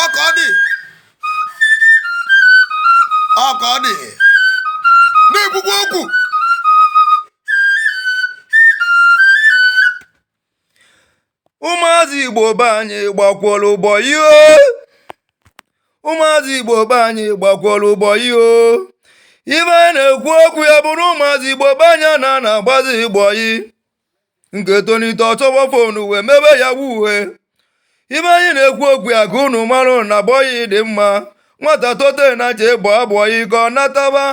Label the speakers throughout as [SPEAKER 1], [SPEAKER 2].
[SPEAKER 1] ọka ọ dị ọka ọ dị na-ekwukwa okwu
[SPEAKER 2] ụmụazị igbo be anyị gbakwara bọyị o ụmụazị igbo be anyị gbakwara bọyị o ife anyị na-ekwu okwu ya bụrụ ụmụazị igbo be anyị na na-agbazi bọyị nke tonite ọ chọwa fon wee mebe yahoo ife anyị na-ekwu okwu ya ka unu marụ na bọyị dị mma nwata tote na je gba bọyị ka ọ nataba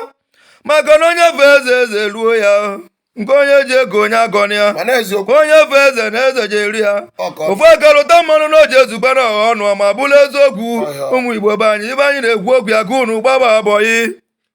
[SPEAKER 2] maka na onye fee eze eze eruo ya nke onye ji ego onye agọna ya mana eziokwu onye fee eze na eze je-eru ya ọkọ ofu aka lụta mmanụ na o je-ezube na ọha ọnụ ma bụrụ eziokwu Ọhịa. ụmụ igbo be anyị ife anyị na-ekwu okwu ya ka unu gbaba bọyị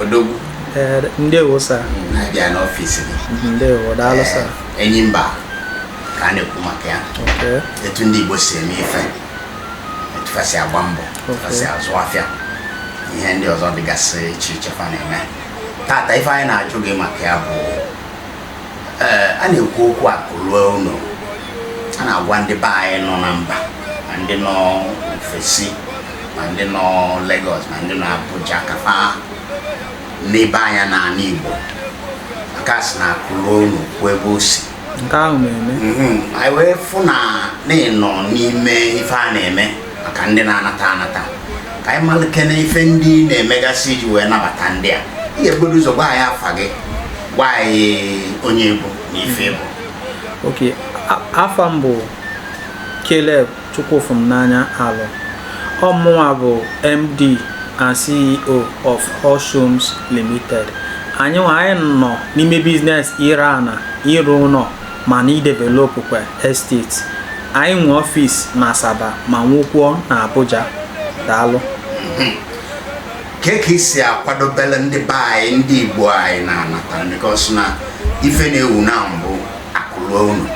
[SPEAKER 1] odogwu ee
[SPEAKER 3] ndewo sa anyị abịa
[SPEAKER 1] n'ọfịs gị ndewo daalụ sa
[SPEAKER 3] enyi mba
[SPEAKER 1] ka a na-ekwu maka ya Okay. etu ndị igbo si eme ife etu fa si agba mbọ etu fa si azụ afịa ihe ndị ọzọ dịgasị iche iche fa na-eme tata ife anyị na-ajụ gị maka ya bụ ee a na-ekwu okwu akụ ruo ụnọ a na-agwa ndị be anyị nọ na mba ma ndị nọ ofesi ma ndị nọ Lagos ma ndị nọ Abuja ka fa nebe anya n'ani Igbo maka a sị na akụ ruo ụnọ o kwuo ebe o si nke ahụ na-eme
[SPEAKER 3] anyị wee
[SPEAKER 1] fụ na ị nọ n'ime ife a na-eme maka ndị na-anata anata ka anyị malụkene ife ndị na-emegasị iji wee nabata ndị a ị ga-ebugodo ụzọ gwa anyị afa gị gwa anyị onye ị bụ na ife ị bụ ok
[SPEAKER 3] afa m bụ Caleb Chukwufumnanya Aloh ọ mụnwa bụ MD and CEO of Hoshums Limited anyị nwa anyị nọ n'ime business ire ana ịrụ ụnọ ma na idevelopụkwa estate. Anyị nwe ọfis n'Asaba ma nwekwuo na Abuja. Daalụ.
[SPEAKER 1] Kee ka i si akwadobere ndị be anyị ndị Igbo anyị na-anata because na ife na-ewu now bụ akụ luo ụnọ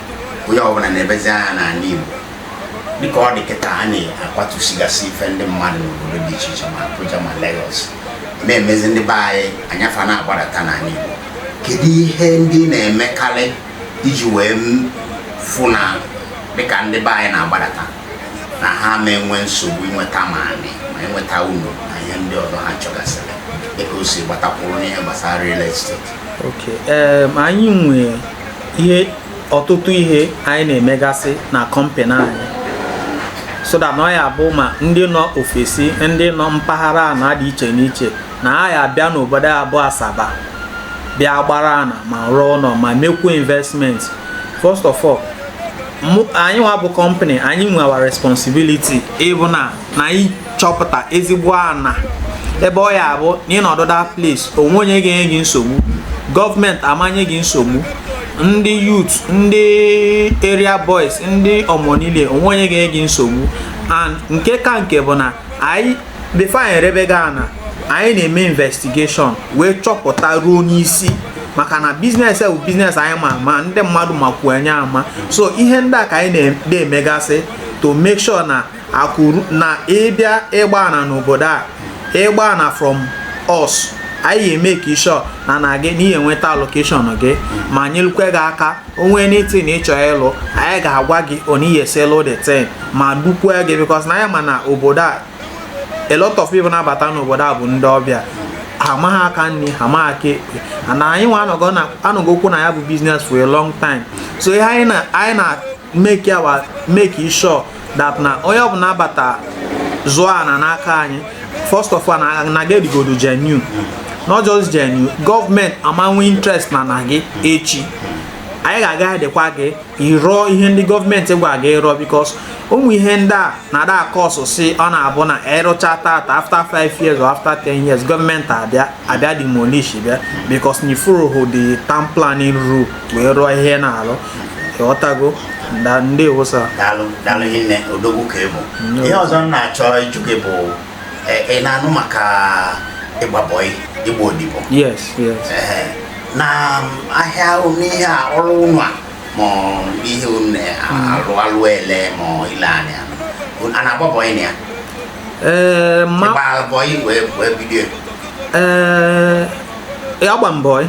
[SPEAKER 1] onye ọbụla nebezi anya n'ani Igbo dịka ọ dị kịta a na-akwatusigasị ife ndị mmadụ n'obodo dị iche iche ma Abuja ma Lagos na-emezi ndị be anyị anya fa na-agbadata n'ani Igbo kedu ihe ndị na-emekarị iji wee fụ na dịka ndị be anyị na-agbadata na ha ama enwe nsogbu inweta ma ani ma inweta ụnọ na ihe ndị ọzọ ha chọgasịrị dịka o si gbatakwuru n'ihe gbasara real
[SPEAKER 3] estate anyị nwe ihe ọtụtụ ihe anyị na-emegasị na kọmpanị anyị so that na ọ ya-abụ ma ndị nọ ofesi ndị nọ mpaghara ana dị iche n'iche na ha ya abịa n'obodo a bụ Asaba bịa gbara ana ma rụọ ụlọ ma mekwu investment first of all anyị nwa bụ company anyị nwa our responsibility bụ na na anyị chọpụta ezigbo ana ebe ọ ya-abụ na ị nọdụ that place o nwe onye ga-enye gị nsogbu gọọmenti amanye gị nsogbu ndị youth ndị area boys ndị ọmọnile o nwe onye ga-enye gị nsogbu and nke ka nke bụ na anyị before anyị erebe gị ana anyị na-eme investigation wee chọpụta ruo n'isi maka na business bụ business anyị ma ama ndị mmadụ makwu anyị ama so ihe ndị a ka anyị na-emegasị to make sure na ọ bụrụ na ị bịa ịgba ana n'obodo a ịgba ana from us anyị ga-emake sure na na gị na ị ya-enweta allocation gị ma nyelukwe gị aka o nwee anything ị chọọ ịlụ anyị ga-agwa gị otu ị ya-esi lụ the thing ma dukwue gị because na anyị ma na obodo a a lot of people na-abata n'obodo a bụ ndị ọbịa ha amaghị aka nri ha amaghị aka ekpe and anyị nwa anọgokwu na ya bụ business for a long time so ihe anyị na-eme ka make sure that na onye ọbụla abata zụọ ana n'aka anyị first of all na ọ ga-adịgodo genuine not just genuine gọọmenti amanwe interest na na gị echi anyị ga-aguidekwa gị ị rụọ ihe ndị gọọmenti gwa gị rụọ because ụmụ ihe ndị a na-adị acause issue ọ na-abụ na ị rụcha tata after 5 years or after 10 years gọọmenti abịa demolish ya because na ị followhụ the town planning rule wee rụọ ihe ị na-alụ ọtago ndewo sir daalụ daalụ
[SPEAKER 1] hinne odogwu ka ị bụ ihe ọzọ m na-achọ ịjụ gị bụ e, ị na-anụ maka ịgba bọị ịgba odibo yes yes Ee, na
[SPEAKER 3] ahịa
[SPEAKER 1] n'ihe a ọrụ unu a ma ọ ihe unu na-alụ ele ma ọ ile ani a na-agba bọị na ya ee ma ị gba bọị wee wee bido ya. ee
[SPEAKER 3] agba m bọị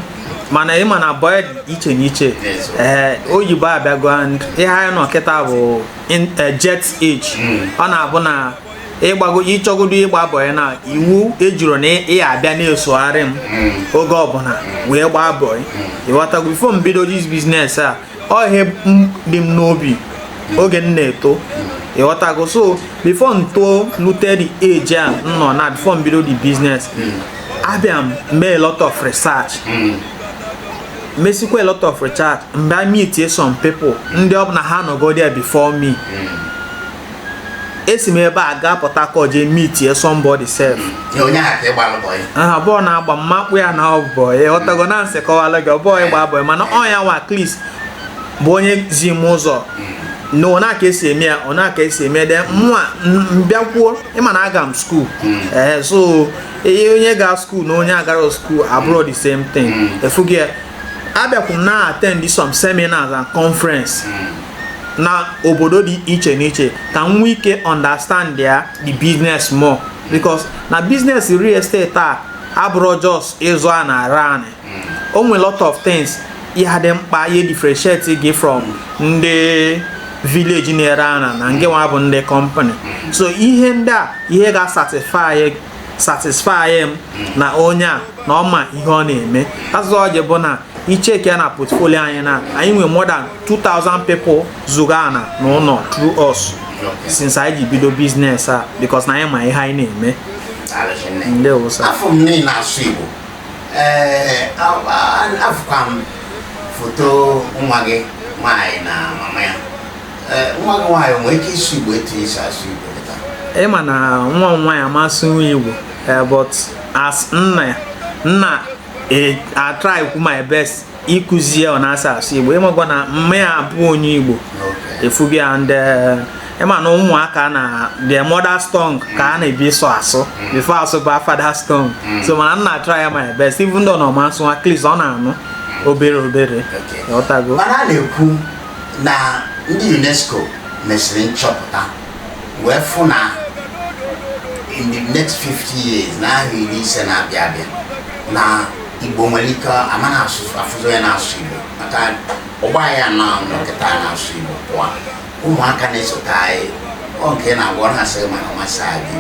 [SPEAKER 3] mana ị ma na boy iche n'iche ee eh, oyibo abịago and ihe anyị nọ kịta bụ eh, jet age hmm. ọ na-abụ na ị chọgodo ịgba bọyị na iwu ejirọ na ị ya-abịa na-esogharị m hmm. oge ọbụla wee gbaa bọyị hmm. ịghọtago before m bido this business a ọ ihe dị m n'obi oge m na-eto ịghọtago so before m too lute the age a m nọ na before m bido the business abịa m mee a lot of research mesikwa a lot of research m bịa meetie some people ndị ọ bụ na ha nọgo there before me esi m ebe a gaa Port Harcourt jee meetie somebody sef abụrọ na-agba mma akpụ ya na boy ịghọtago na nsị kọwalụ gị ọ bụrọ ịgba boy mana ọ ya nwa at least bụ onye zi m ụzọ na ọ na-aka esi eme ya ọ na-aka esi eme then mụwa m bịakwuo ịma na aga m skuul ee eh, so ihe onye ga skuul na onye agara skuul abụrọ the same thing mm. ị fụgo ya abịakwu m na-attend some seminars and conference mm. na obodo dị iche n'iche ka m nwee ike understandia the business more because na business real estate a abụrọ just ịzụ ana naanị hmm. o nwere lot of things ihe dị mkpa ihe differentiate gị from ndị village na-ere ana na ngị nwa bụ ndị company hmm. so ihe ndị a ihe ga-satisfy satisfy m na onye a na ọ ma ihe ọ na-eme as o ji bụ na i checkia na portfolio anyị na anyị nwere more than 2000 people zụgo ana na ụnọ through us since anyị ji bido business a because na anyị ma ihe anyị na-eme
[SPEAKER 1] ndewo sir afụ m na ị na-asụ igbo ee afụkwa m foto nwa gị nwaanyị na mama ya nwa gị nwaanyị nwee ike ịsụ igbo etu i si asụ igbo ị ma
[SPEAKER 3] na nwa m nwaanyị ama asụnwu igbo eh, but as nna ya m na-atry kwu my best ịkụzi ya etu esi asụ igbo ị makwa na mma ya abụrọ onye igbo ị fụgo ya and eh, ịma na ụmụaka na their mother's tongue ka ha na-ebu ụzọ asụ before asụba father's tongue mm. so mana m na-atry my best even though na ọ ma asụnwu at least ọ na-anụ obere obere ịghọtago mana a na-ekwu
[SPEAKER 1] na ndị UNESCO mesịrị nchọpụta wee fụ na in the next 50 years n'ahọ iri ise na-abịa abịa na Igbo nwere ike a ma na-afụzị onye na-asụ Igbo maka ọgbọ anyị kịta na-asụ Igbo pụọ ụmụaka na-esote anyị ọ nke na-agwa ọ na-asị gị mana ọ masị anyị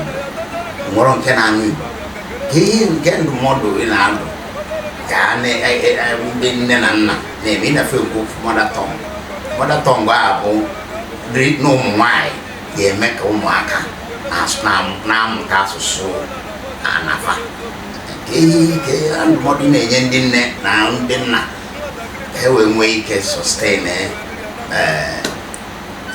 [SPEAKER 1] Igbo nwere nke na-anụ Igbo kee ihe nke ndụmọdụ ị na-adụ ka ndị nne na nna na-eme ị na-afụ okwu mother tongue mother tongue a bụ nne na ụmụ nwanyị ga-eme ka ụmụaka na-asụ- na- na-amụta asụsụ ana fa Kee ndụmọdụ ị na-enye ndị nne na ndị nna ka e wee nwee ike sustain eh,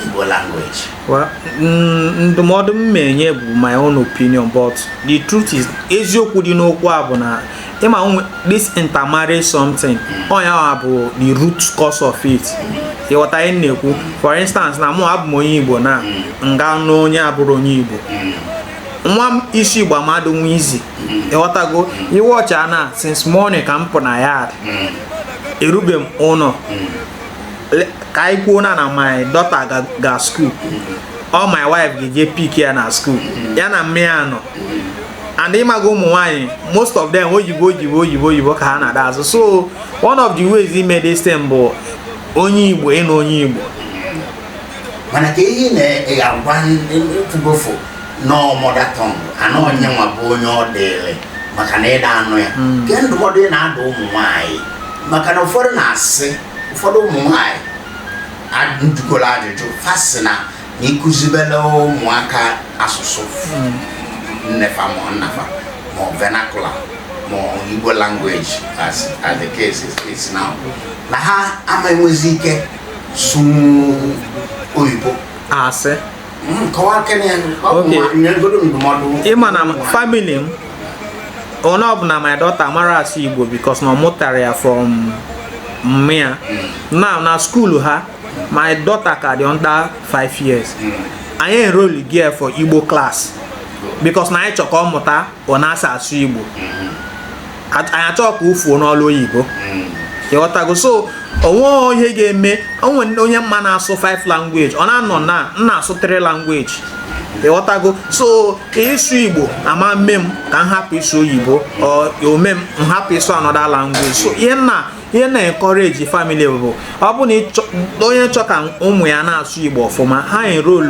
[SPEAKER 1] Igbo language. Well,
[SPEAKER 3] mm, ndụmọdụ m na-enye bụ my own opinion but the truth is eziokwu dị n'okwu a bụ na ịma nwe this intermarriage something ọ nya mm. bụ the root cause of it ịghọta ihe m na-ekwu for instance na mụwa abụ m onye Igbo na mm. m gaa nụọ onye abụrọ onye Igbo nwa m ịsụ Igbo ama adị nwa easy ịghọtago i watchaa na since morning ka m pụ na yard erube m ụnọ ka anyị kwuo na na my daughter ga school ọ my wife ga-eje pick ya na school ya na mme ya nọ and ịmaga ụmụ nwaanyị most of them oyibo oyibo oyibo oyibo ka ha na-ada asụ so one of the ways ime this thing bụ onye Igbo ịnụ onye Igbo
[SPEAKER 1] mana ka ihe na-agwa ndị nọọ mother tongue anọ onye nwa bụ onye ọ dịrị maka na ịda anụ ya hmm. kee ndụmọdụ ị na-adụ ụmụ nwaanyị maka na ụfọdụ na-asị ụfọdụ ụmụ nwaanyị m jụgoro ajụjụ fa sị na na ịkụzibela ụmụaka asụsụ hmm. nne fa ma nna fa ma vernacular ma Igbo language as as the case is, is now na ha ama enwezi ike sụnwu oyibo asị ị ma na
[SPEAKER 3] family m onye ọbụla my daughter mara asụ Igbo because na ọ mụtara ya from mme ya na na school ha my daughter ka dị under 5 years anyị enroll go ya for Igbo class because na anyị chọ ka ọ mụta ọ na-asa asụ Igbo anyị achọghị ka o fuo n'olu oyibo ịghọtago so o nwe ihe ga-eme o nwe onye m ma na-asụ 5 language ọ na-anọ na na-asụ 3 language ịghọtago so ịsụ Igbo ama eme m ka m hapụ ịsụ oyibo ome m m hapụ ịsụ another language so ihe m na ihe m na-encourage family bụ ọ bụ na onye chọ ka ụmụ ya na-asụ Igbo ọfụma ha enroll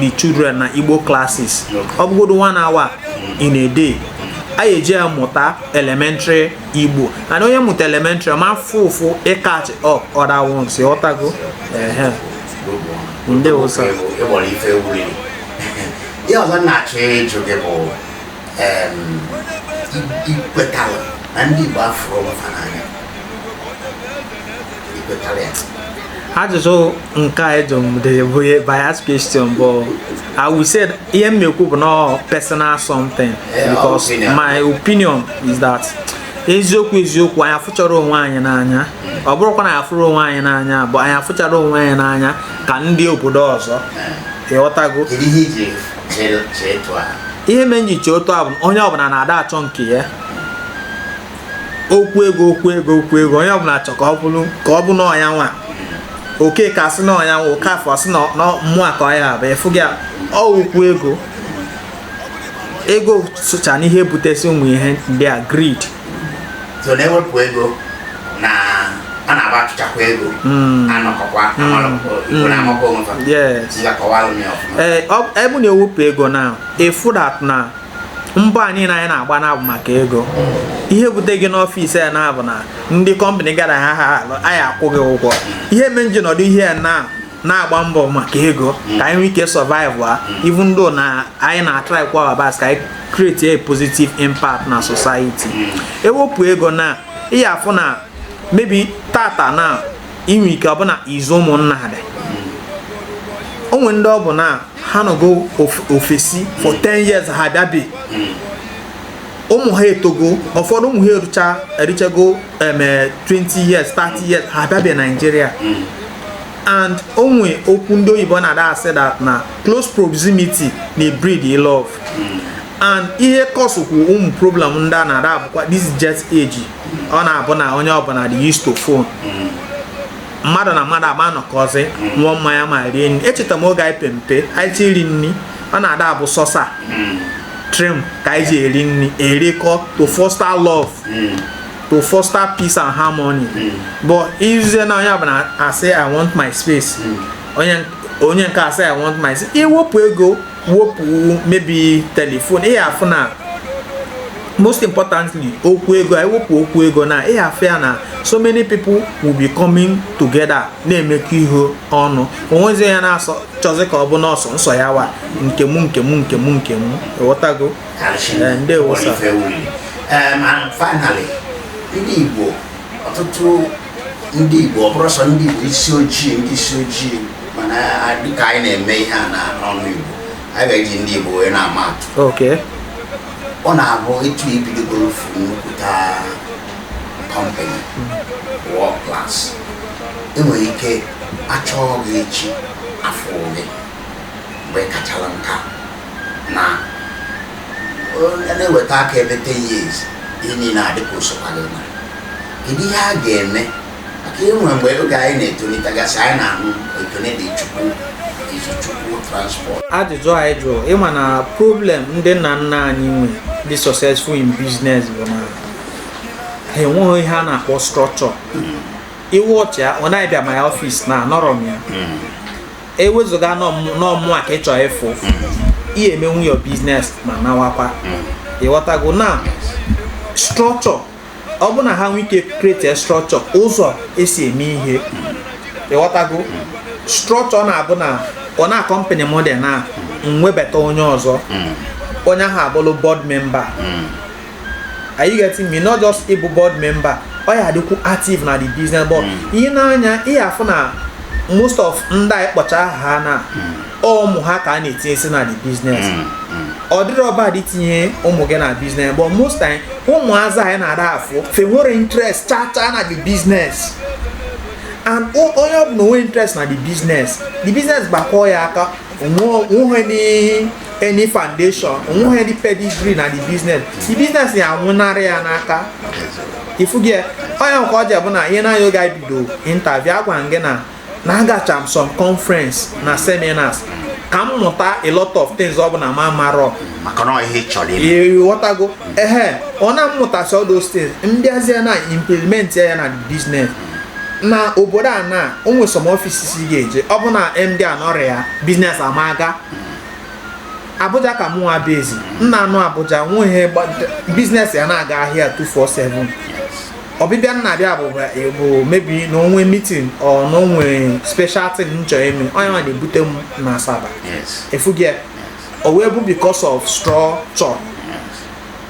[SPEAKER 3] the children na Igbo classes ọ bụgodo one hour in a day a eji ya mụta elementary Igbo and onye mụta elementary ọ ma afụ ụfụ ịcatch up other ones ịghọtago ehe ndewo sir ihe
[SPEAKER 1] ọzọ m na-achọ ịjụ gị bụ i kwetara na ndị Igbo afụrọ onwe
[SPEAKER 3] fa n'anya i kwetara ya ajụjụ nke a ị jụrụ m dị bụ ihe bias question but I will say ihe m na-ekwu bụ na personal something Eh, because opinion. my opinion is that eziokwu eziokwu anyị afụcharọ onwe anyị n'anya ọ bụrọkwa na anyị afụrọ onwe anyị n'anya but anyị afụcharọ onwe anyị n'anya ka ndị obodo ọzọ ịghọtago kedu ihe i ji chee chee otu a ihe mere m ji chee otu a bụ na onye ọbụla na-ada achọ nke ya okwu ego okwu ego okwu ego onye ọbụla chọ ka ọ bụrụ ka ọ bụ na ọ nya nwa oke ka asị na ọ nya nwa oke afọ asị na mmụọ ka ọ nya bụ ịfụ gị ọ okwu ego ego socha n'ihe butesi ụmụ ihe ndị a greed
[SPEAKER 1] so na-ewepụ ego na a na-agba achụchakwa ego hmm. anọkọkwa hmm. hmm. na-amakwa onwe fa ee
[SPEAKER 3] ọ bụ na-ewepụ ego na efu na mbọ a niile anyị na-agba na-abụ maka ego ihe bute gị n'ọfịs ya na-abụ na ndị company gara ha ya-akwụ gị ụgwọ ihe me nji nọdụ ihe ya na na-agba mbọ maka ego ka anyị nwee ike survive even though na anyị na-atry kwa our best ka anyị create a positive impact na society ewepụ ego na ị ya-afụ na maybe tata na inwe ike ọbụna izu ụmụnna ha dị o nwe ndị ọ bụ na ha nọgo ofesi for 10 years ha bịabe ụmụ ha etogo ụfọdụ ụmụ ha eruchago 20 years 30 years ha bịabe Nigeria and o nwe okwu ndị oyibo na-ada asị that na close proximity na breed love and ihe kọsụkwu ụmụ problem ndị a na-ada abụkwa this jet age ọ na-abụ na onye ọbụla dị used to phone mmadụ na mmadụ ama anọkọzi ṅụọ mmanya ma rie nri echeta m oge anyị pe mpe anyị chọ iri nri ọ na-ada abụ sọsa trim ka anyị ji eri nri erikọ to foster love to foster peace and harmony but izie na onye ọbụla asị i want my space onye nke a sị i want my space i wepụ ego wepụ maybe telephone ị ya-afụ na most importantly okwu ego i wepụ okwu ego na ị ya-afụ ya na so many people will be coming together na-emekọ ihe ọnụ onwezi ya na-asọ chọzi ka ọ bụ n'ọsọ nsọ ya wa nke mụ nke mụ nke mụ nke mụ ịghọtago eh, ndewo sir. Um,
[SPEAKER 1] and finally ndị Igbo ọtụtụ ndị Igbo ọ bụrọ sọ ndị Igbo isi ojii ndị isi ojii mana dịka anyị na-eme ihe a na ọnụ Igbo anyị ga-eji ndị Igbo wee na-ama atụ ọ na-abụ etu i bidogoro ofu nnukwuta company world class enwere ike achọọ gị echi afọ ole mgbe kachala nka na na-eweta aka ebe 10 years ihe niile adị ka usokwa gị mara kedu ihe a ga-eme maka e nwe mgbe oge anyị na-etolitegasị anyị na-ahụ Ekene Dili Chukwu Izu Chukwu transport ajụjụ anyị
[SPEAKER 3] jụrụ ị ma na problem ndị nna nna anyị nwe dị successful in business bụ na ha enwerọ ihe a na-akpọ structure ị watchịa ọ na ị bịa my office na anọrọ m ya ewezuga na ọ mụa ka ị chọ ịfụ ị ya-emenwu your business ma nawakwa ịghọtago na structure ọ bụ na ha nwee ike create structure ụzọ e si eme ihe ịghọtago structure na-abụ na ọ na company m dị na m webata onye ọzọ onye ahụ abụrụ board member are you getting me not just ịbụ board member ọ ya-adịkwu active na the business but hmm. i nee anya ị ya-afụ na most of ndị a ị kpọcha aha na hmm. ụmụ ha ka ha na-etinyesi na the business hmm, ọ dịrọ bad itinye ụmụ gị na business but most time ụmụazị anyị na-ada afụ fa enwerọ interest cha cha na the business and onye ọ bụ na o nwerọ interest na the business the business gbakọọ ya aka o nwe any foundation o nweghị any pedigree na the business the business ya-anwụnarị ya n'aka ị fụgo ya onye nke ọzọ bụ na i nee anya oge anyị bido interview agwa gị na na agacha m some conference na seminars ka m mụta a lot of things ọ bụ na m amarọ
[SPEAKER 1] ị
[SPEAKER 3] ghọtago ehe ọ na m mụtasị all those things m bịazie na-implement ya na business na obodo a na o nwere some offices ị ga-eje ọ bụ na MD anọrọ ya business ama aga Abuja ka mụnwa bizi m na-anọ Abuja nwee business ya na-aga ahịa 247 ọbịbịa m na-abịa bụ bụ maybe na o nwe meeting or na o nwe special thing m chọrọ ime ọ ya nwa na-ebute m na Asaba ị fụgo ya o wee bụ because of structure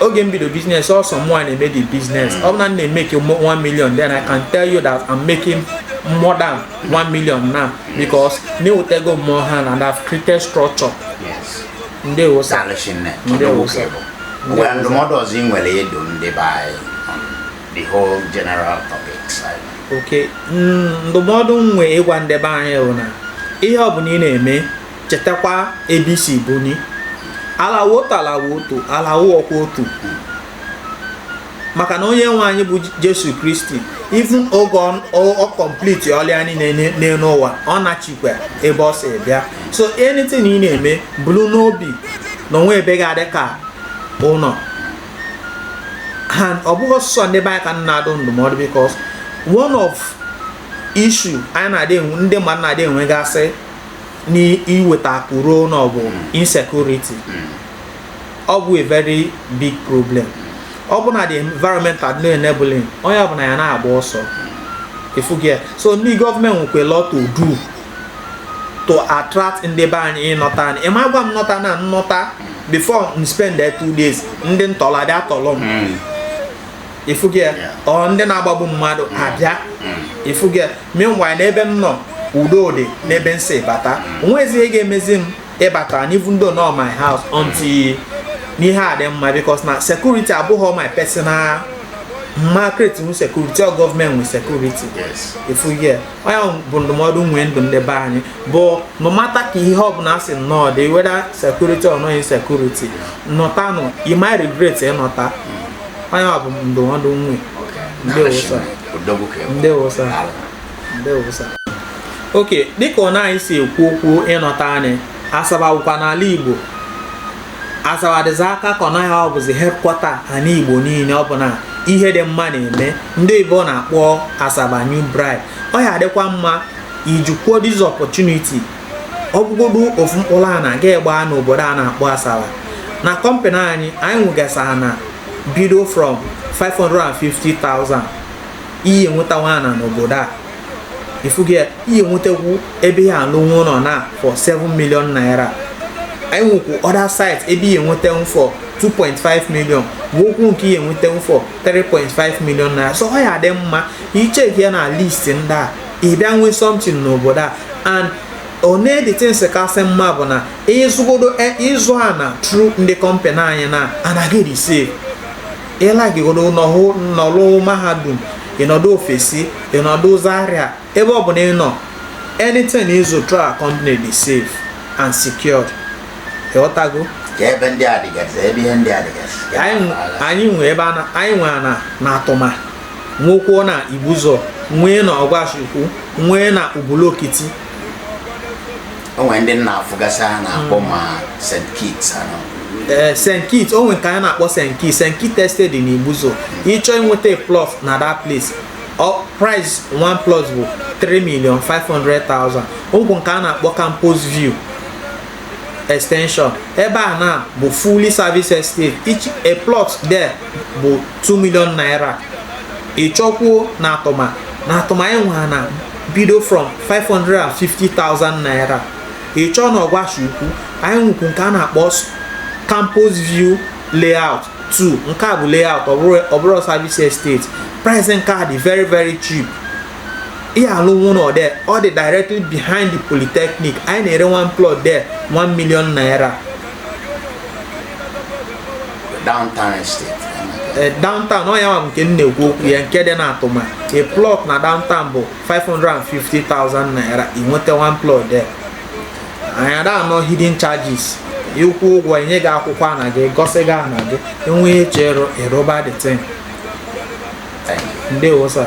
[SPEAKER 3] oge m bido business ọ sọ mụwa na-eme the business ọ bụ na m na-emake 1 million then I can tell you that I'm making more than 1 million now because na ewetego m more hand and have created structure
[SPEAKER 1] ndeewo
[SPEAKER 3] sir ndeewo sir
[SPEAKER 1] well ndụmọdụ ọzọ ị nwere ịdụ ndị be anyị the whole general topics okay
[SPEAKER 3] ndụmọdụ m nwe ịgwa ndị be anyị bụ na ihe ọ bụla ị na-eme chetakwa ebe i si buni ala wụ otu ala wụ otu ala awụkwa otu maka na onye nwe anyị bụ jesu kristi even oge o complete ọlụ ya niile n'elu ụwa ọ nachikwa ebe o si bịa so anything ị na-eme buru n'obi na o nwerọ ebe ga-adị ka ụnọ and ọ bụghị sọsọ ndị be anyị ka m na-adụ ndụmọdụ because one of issue anyị na-adị enwe ndị mmadụ na-adị enwegasị n'iweta akụ ruo ụnọ bụ insecurity ọ bụ a very big problem ọ bụ na the environment adịrọ enabling onye ọbụla ya na-agba ọsọ ị fụgo ya so ndị gọọmenti nwekwa a lot to do to attract ndị be anyị ịnọta ụnọ ị ma agwa m nọta na m nọta before m spend there two days ndị ntọlị adị atọlọ m hmm. ị fụgo ya or ndị na-agbagbu mmadụ abịa ị fụgo ya meanwhile n'ebe m nọ udo dị n'ebe m si bata o nwezi ihe ga-emezi m ịbata even though na ọ my house until ihe adị mma because na security abụghị my personal m ma create security ọ government nwe security. Yes. If we get. ọ ya bụ ndụmọdụ m nwee ndụ ndị be anyị but no matter ka ihe ọbụla si nnọọ dị whether security or no insecurity nọtanụ ị ma regret ịnọta ọ ya bụ ndụmọdụ m nwe ndewo sir ndewo sir okay dịka ọ na anyị si ekwu okwu ịnọta anyị asaba bụkwa n'ala Igbo asaba dịzi aka ka ọ naghị ọ bụzi headquarter ana igbo niile ọ bụ na ihe dị mma na-eme ndị igbo na-akpọ asaba new bride ọ ya-adịkwa mma i jikwuo this opportunity ọ bụgodu ofu mkpụrụ ana ị ga-egba n'obodo a na-akpọ asaba na company anyị anyị nwegasara ana bido from 550,000 ị ya-enwetanwu ana n'obodo a ị fugo ya ị ya-enwetakwu ebe ị ya-alụnwu ụnọ na for 7 million naira anyị nwekwu other site ebe ị ya-enwetanwu for 2.5 million nwekwu nke ị ya-enwetanwu for 3.5 million naira so ọ ya-adị mma ị check ya na list ndị a ị bịa nwee something n'obodo a and one the things kasị mma bụ na ị zụ ana through ndị company anyị na anaghị receive ị likeịgodo nọlụ mahadum ị nọdụ ofesi ị nọdụ zaria ebe ọ bụla ị nọ anything ị zụ through our company dị safe and secured ị ghọtago ebe
[SPEAKER 1] ndị a dịgasị ebe ihe ndị a dịgasị anyị
[SPEAKER 3] nwe ebe anyị nwe ana na atụma nwekwuo na ibuzọ nwee na ọgwashi ukwu nwee na ubulu okiti
[SPEAKER 1] o nwere ndị m na-afụgasị a na-akpọ hmm. ma St. Kitts ee
[SPEAKER 3] eh, St. Kitts o nwere nke anyị na-akpọ St. Kitts St. Kitts Estate dị n'Igbuzo hmm. ị chọọ inweta plot na that place price one plot bụ 3 million 500,000 nwekwu nke a na-akpọ campus view extension ebe a na bụ fully service estate each a plot there bụ 2 million naira ị chọkwuo na atụma na atụma anyị nwere ana bido from 550,000 naira ị chọọ na ọgwashi ukwu anyị nwekwu nke a na-akpọ campus view layout 2 nke a bụ layout ọ bụrọ service estate price nke a dị very very cheap ị ya-alụnwu ụnọ there ọ dị directly behind the polytechnic anyị na-ere one plot there 1 million naira
[SPEAKER 1] downtown estate eh,
[SPEAKER 3] downtown ọ ya nke m na-ekwu okwu ya nke dị na atụma a plot na downtown bụ 550,000 naira ị nweta one plot there anyị ada ana hidden charges ị kwụ ụgwọ e nye gị akwụkwọ ana gị gọsị gị ana gị enwe ihe chere ị rụba the thing
[SPEAKER 1] ndewo sir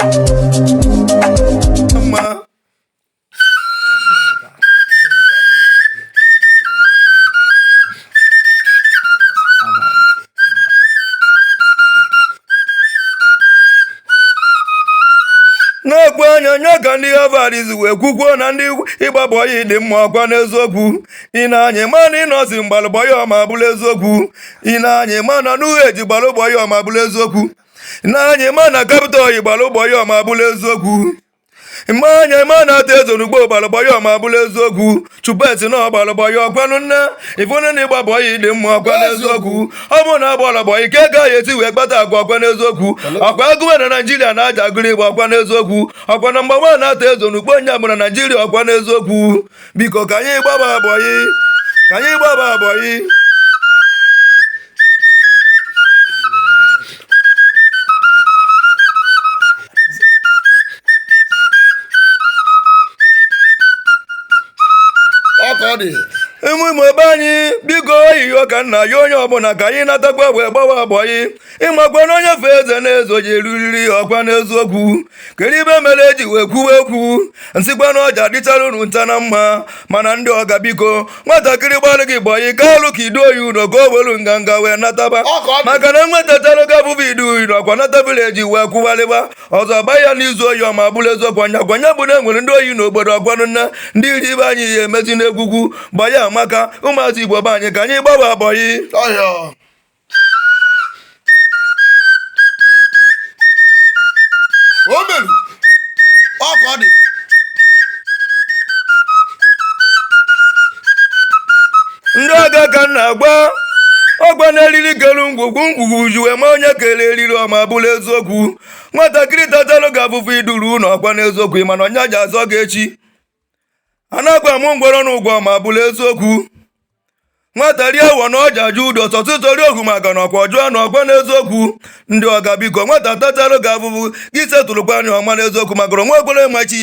[SPEAKER 2] na ọkwa nya nya ka ndị Harvard si wee kwukwuo na ndị ịgba bọyị dị mma ọkwa n'eziokwu ị na-anya ma na Innoson gbalụ bọyị ọma bụrụ eziokwu ị na-anya ma na n'ughe ji gbalụ bọyị ọma bụrụ eziokwu na anyị ma na Capital Oil gbalụ bọyị ọma abụla eziokwu mgbe anya ma na Arthur Eze n'Ukpo gbalụ bọyị ọma abụla eziokwu Chupet na ọ gbalụ bọyị ọkwanụ nne ị fụnụ na ịgba bọyị dị mma ọkwa n'eziokwu ọ bụ na a gbalụ bọyị ka ego ahụ esi wee kpata ego ọkwa n'eziokwu ọkwa agụwe na naijiria na-aja agụrụ Igbo ọkwa n'eziokwu ọkwa na mgbanwe na Arthur Eze n'Ukpo onye ọ bụ na naijiria ọkwa n'eziokwu biko ka anyị gbaba bọyị ka anyị gbaba bọyị ọka ọ dị ụmụ Igbo ebe anyị biko oyiyo ka nna ya onye ọbụla ka anyị natakwa wee gbawa bọyị ịmakwa na onye fe eze na eze je eruriri ọkwa n'eziokwu kedu ife mere eji wee kwuwe okwu nsịkwa na ọja dịchara unu ncha na mma mana ndị ọga biko nwatakịrị gbalụ gị bọyị ka alụ ka i duo ya ụnọ ka o welu nganga wee nataba maka na nwa tachara gị afụfụ i duo ya na ọkwa nata vileji wee kwụgharịba ọzọ gba ya n'izu ohi ọma bụrụ eziokwu ọ nya kwa nya bụ na enwere ndị ohi n'obodo ọkwanụ nna ndị iri ibe anyị ya emezi na-ekwukwu bọyị amaka ụmụazị igbo be anyị ka anyị gbawa bọyị ngwugwu ngwugwu ji wee ma onye kere eriri ọma bụrụ eziokwu nwatakịrị tachalụ gị afụfụ i duru ụlọ ọkwa n'eziokwu mana ọ nya ja-azọ gị echi a na-agwa m ngwọrọ na ụgwọ ma bụrụ eziokwu nwata rie awọ na ọja ajụ ụdọ tọtụtọri ohu maka na ọkwa ọjụọ na ọkwa n'eziokwu ndị ọga biko nwata tacharụ gị afụfụ gị setụlụkwaa nya ọkwa n'eziokwu maka na nwa ekwere ma echi